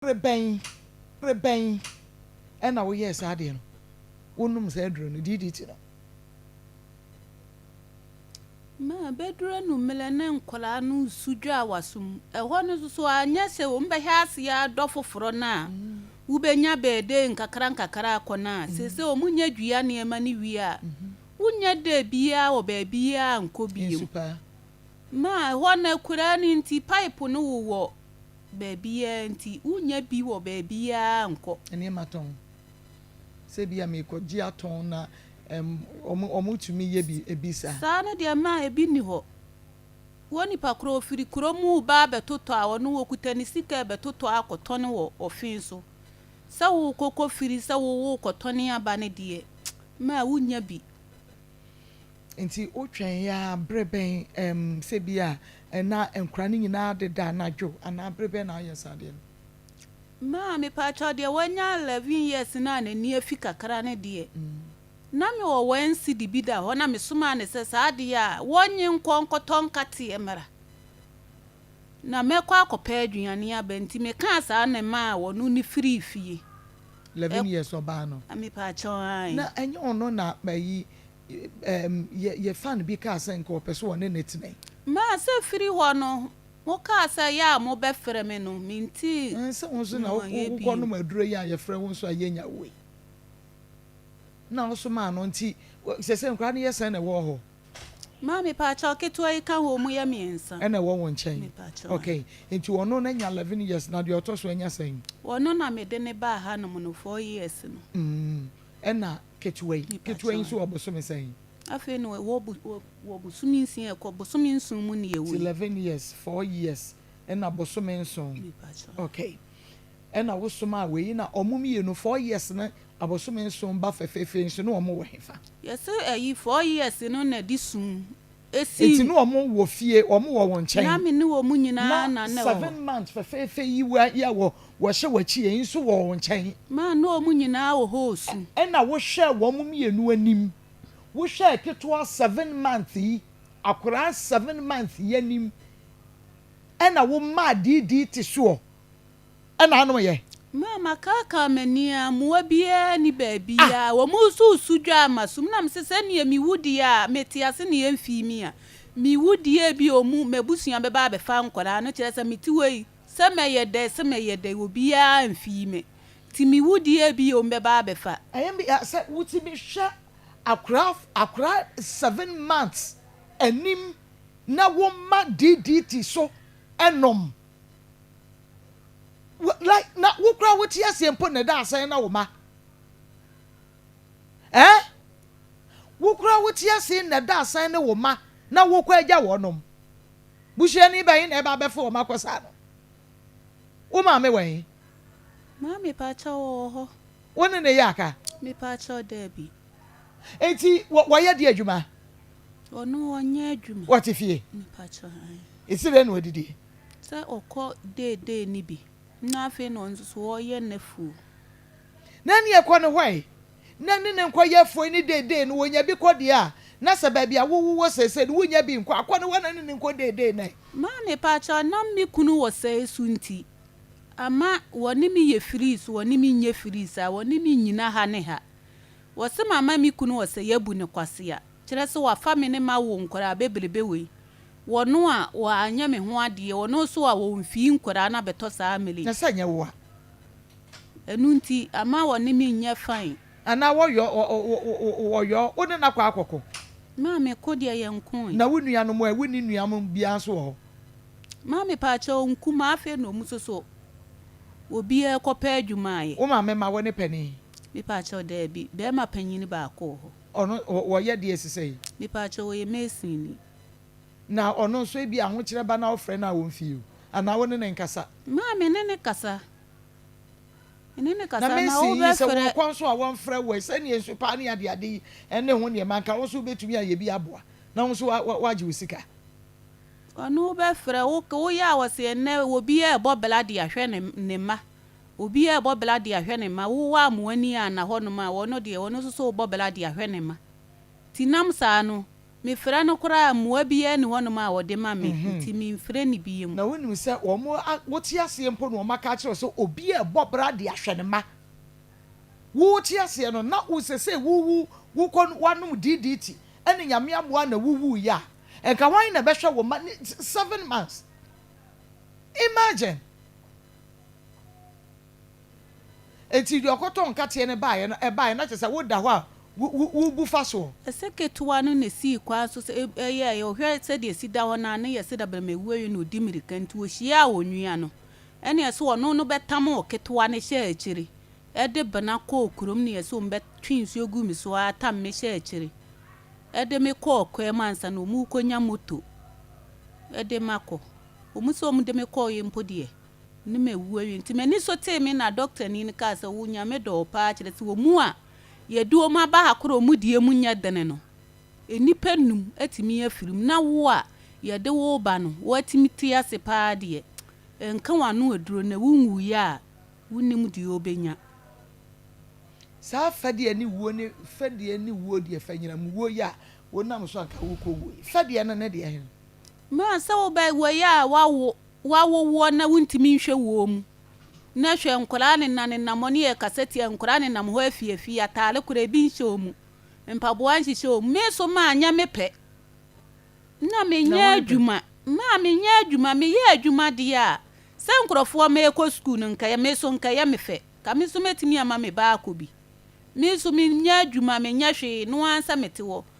Bere bɛn, bere bɛn na woyɛɛ saa adeɛ no? Wonom saa aduro no, DDT no? Ma bɛduru anwummerɛ na nkwadaa no resu dwa wɔ aso mu. Ɛhɔ no nso so, anyɛ sɛ wɔbɛhyɛ aseɛ adɔ foforɔ no a, wobɛnya bɛɛdee nkakra nkakra akɔ no a, seesei wɔnya dua nneɛma no wie a, wonnya dee biara wɔ baabiara nkɔ bio. Ma ɛhɔ no akuraa no nti, pipe no wowɔ Baabiara nti, wunnya bi wɔ baabiara nkɔ. Nneɛma tɔn. Sɛ ebia merekɔgye atɔn na ɛm, wɔtumi yɛ bi, ebi saa. Saa no deɛ mma ebi nni hɔ. Wo nipa korɔ ɔfiri kuro mu reba abɛtotɔ a, ɔno ɔkuta ne sika rebɛtotɔ akɔtɔn wɔ ɔfe so. Sɛ worekɔ kɔfiri sɛ worekɔtɔn aba no deɛ, mma wunnya bi. Enti wotwɛn ara bere bɛn ɛm sɛ bi a na nkwadaa no nyinaa deda anadwo anaa bere bɛn na woyɛ saa adeɛ no? Maa, Mepaatwɔ deɛ wanya eleven years no a n'ani afi kakra no deɛ, na me wɔ one cedi bi da hɔ na me somaa no sɛ saa adeɛ a wɔnnye nkɔ nkɔtɔ nkateɛ mmra na mɛkɔ akɔpɛ aduane aba nti me kaa saa na ɛmaa ɔno ne firii fie. Eleven years ɔbaa no? Mepaatwɔ, aane. Na ɛnyɛ ɔno na ayi yɛ fan bi kaa sɛ nka ɔpɛ sɛ ɔne no tena. Maa sɛ firi hɔ no mo kaa sɛ yɛ a mo bɛ frɛ me no me nti sɛ wo nso na wo kɔ nom aduro yi a yɛ frɛ wo nso a yɛ nya wo yi na wo nso maa no nti sɛsɛ nkura no yɛ sɛn na ɛwɔ hɔ. Maa me paakyɛw ketewa yi ka ho ɔmo yɛ miensa. Ɛna ɛwɔ wo nkyɛn ok nti ɔno na nya eleven years na deɛ ɔtɔ so anya sɛn. Ɔno na me de ne baa ha nom no four years no. Ɛna Ketewa yi, ketewa yi nso wɔ bosome sɛn? Afei no wɔ bo wɔ wɔ bosome nsia a ɛkɔ bosome nson mu ne ɛwɔ yi. Eleven years, four years ɛna bosome nson. Okay. Ɛna wo somaa wei yi na ɔmo mmienu four years ne abosome nson ba fɛfɛɛfɛ nso na ɔmo wɔ hefa? Yɛse ɛyi four years no na ɛde sum si. Enti na wɔn wɔ fie, wɔn wɔ wo nkyɛn. Na me ne wɔn nyinaa na na ɛwɔ hɔ. Seven months fɛfɛɛfɛ yi wa yi a wɔ wɔhyɛ w'akyi yɛ yi nso wɔ wo nkyɛn. Ma na wɔn nyinaa wɔ hɔ resu. Ɛna wohwɛɛ wɔn mmienu anim. Wohwɛɛ ketewa seven months yi, akwadaa seven months yi anim. Ɛna womaa deedee te soɔ. ɛna ano yɛ. Maa makaakaa m'ani a mmoa biara nni baabi a wɔresusu dwa a masom na mese sɛ nea mewu deɛ a mete ase na yɛmfii me a mewu deɛ a ebia wɔn m'abusua bɛba abɛfa nkwadaa no kyerɛ sɛ mete hɔ yi sɛ mɛyɛ dɛn sɛ mɛyɛ dɛn obiara amfii me nti mewu deɛ a ebia wɔn bɛba abɛfa Ɛyɛ me ya sɛ wotumi hwɛ akwadaa akwadaa seven months anim na woma DDT so nom like na wo koraa wote aseɛ mpo na ɛda asɛn na wo ma eh wo koraa wote aseɛ na ɛda asɛn ne wo ma na wokɔ agya wɔnom busuani bɛyi na ɛba abɛfa wɔn akɔ saa no wo maame wɔ he Maame paakyɛ wɔwɔ hɔ. wo ne ne yɛ aka Me paakyɛ daabi. enti wɔ wɔyɛ deɛ adwuma Ɔno ɔnyɛ adwuma. Ɔte fie. Mpakyɛ han. Esi dɛn na ɔdidie? Sɛ ɔkɔ day day no bi na afei na ɔno nso so ɔyɛ n'afuo. Na ɛne ɛkɔ ne hɔ ɛ. Na ɛne ne nkɔ yɛ afuo ne day day no ɔnya bi kɔ deɛ a, na sɛ baabi a wowɔ seesei no wonnya bi nkɔ a, kɔ ne hɔ na ne ne nkɔ day day no ɛ. Maa mepakyɛw na me kunu wɔ sɛɛ so nti ama wɔne me yɛ frees wɔne me nyɛ frees a wɔne me nnyina ha ne ha. Wɔse mama me kunu ɔsɛ yabu no kwasea kyerɛ sɛ wafa me ne mawo nkwadaa bebrebe wei wɔno a wɔ anyɛ me ho adeɛ wɔno nso a wɔn fii nkwadaa no abɛtɔ saa mele yi. Na sɛ nyɛ wo a. Ɛno nti ama wɔne me nyɛ fine. Anaa wɔ yɔ wɔ yɔ wo ne no akɔ akɔ ko. Maame ko deɛ yɛ nko e. Na wo nua nom ɛ wo nni nua mo biaa nso wɔ hɔ. Maame paakyɛw nkumaa afei na ɔmo soso obiaa kɔ pɛ adwuma ayɛ. Wo maame ma wo ne panin. Mepaakyɛw, Dabi. Barima panyin baako wɔ hɔ. Ɔno, ɔ, ɔyɛ deɛ ɛsesɛ yi. Mepaakyɛw, Ɔyɛ mason ni. Na ɔno nso, ebia ahokyerɛ ba na wofrɛ no a ɔmfie o, anaa wo ne no nkasa. Maa me ne no kasa. Me ne no kasa, na mason yi, wobɛfrɛ. Sɛ wɔwɔ kwan so a wɔmfrɛ wo ɛ, sɛdeɛ nsu paa ne adeade yi ne ho nneɛma, anka wo nso wobɛtumi ayɛ bi aboa, na wo nso wa, wa, wagye wo sika. Ɔno wobɛfrɛ, wo, woyɛ a wɔse ɛnnɛ obi ɛrebɔ bla de ahwɛ ne, ne mma, Obi a ɔbɔ bra de ahwɛ ne mma, wo a mo ani anna hɔnom a, ɔno deɛ, ɔno nso so rebɔ bra de ahwɛ ne mma. Nti nam saa no, mefrɛ no koraa a, mmoa biara nni hɔnom a ɔde ma me, nti memfrɛ no biom. Na wonim sɛ wɔn a wote aseɛ mpo na wɔaka akyerɛ wo sɛ obi a ɔbɔ bra de ahwɛ ne mma. Wote aseɛ no, na wo seesei wo wo wokɔ no woanom DDT ne Nyame ammoa a na wowuiɛ a, nka hwan na ɛbɛhwɛ wo mma ne seven months? Imagine! Enti deɛ ɔkɔtɔɔ nkateɛ no baeɛ no, ɛbaeɛ na kyerɛ sɛ woda hɔ a worebu fa soɔ. Ɛsɛ ketewa no na esii kwan so sɛ ɛyɛ a ɔhwɛ sɛdeɛ esi da hɔ no a, na ɛyɛ sɛ dabrɛma awuawuo na ɔdi mmirika nti ɔhyiaa onua no. Ɛnna ɛyɛ sɛ ɔno no bɛtamoo ketewa no hyɛɛ akyire de bena kɔɔ kurom na ɛyɛ sɛ wɔbɛtwe nsuo guu me so ara tam me hyɛɛ akyire de me kɔɔ kwaam ansa na wɔrekɔnya moto de me akɔ. Wɔn sɛ wɔde me kɔeɛ mpo deɛ, ne mawu awie. Nti m'ani so tee me na dɔktani no kaa sɛ, wo Nyame dɔ wo paa kyerɛ sɛ wɔn a yɛde wɔn aba ha korɔ a wɔn deɛ mu nyɛ dene no, nnipa nnum atumi afiri mu, na wo a yɛde wo reba no, woatumi te ase paa deɛ, nka w'ano aduro na wonwuiɛ a, wonnim deɛ wobɛnya. Saa fɛdeɛ ne wuo ne fɛdeɛ ne wuo deɛ, fanyinam wuo yi a wonam so a nka worekɔ wuo yi, fɛdeɛ no ne deɛ hen? Mmerɛ sɛ wobɛyɛ a wawo wawo woɔ na wontumi nhwɛ woɔ mu na hwɛ nkwadaa ne nane nam ɔne yɛ kasa tia nkwadaa ne nam hɔ afie afie ataare koraa ebi nhyɛ wɔn mu mpaboa nhyehyɛ wɔn me so maa nyɛ me pɛ na menyɛ adwuma maa menyɛ adwuma meyɛ adwuma deɛ a sɛ nkurɔfoɔ mɛkɔ sukuu no nkɛyɛ me so nkɛyɛ me fɛ ka me so mɛtumi ama me baakɔ bi me so menyɛ adwuma menyɛ hwee no ara sɛ mete hɔ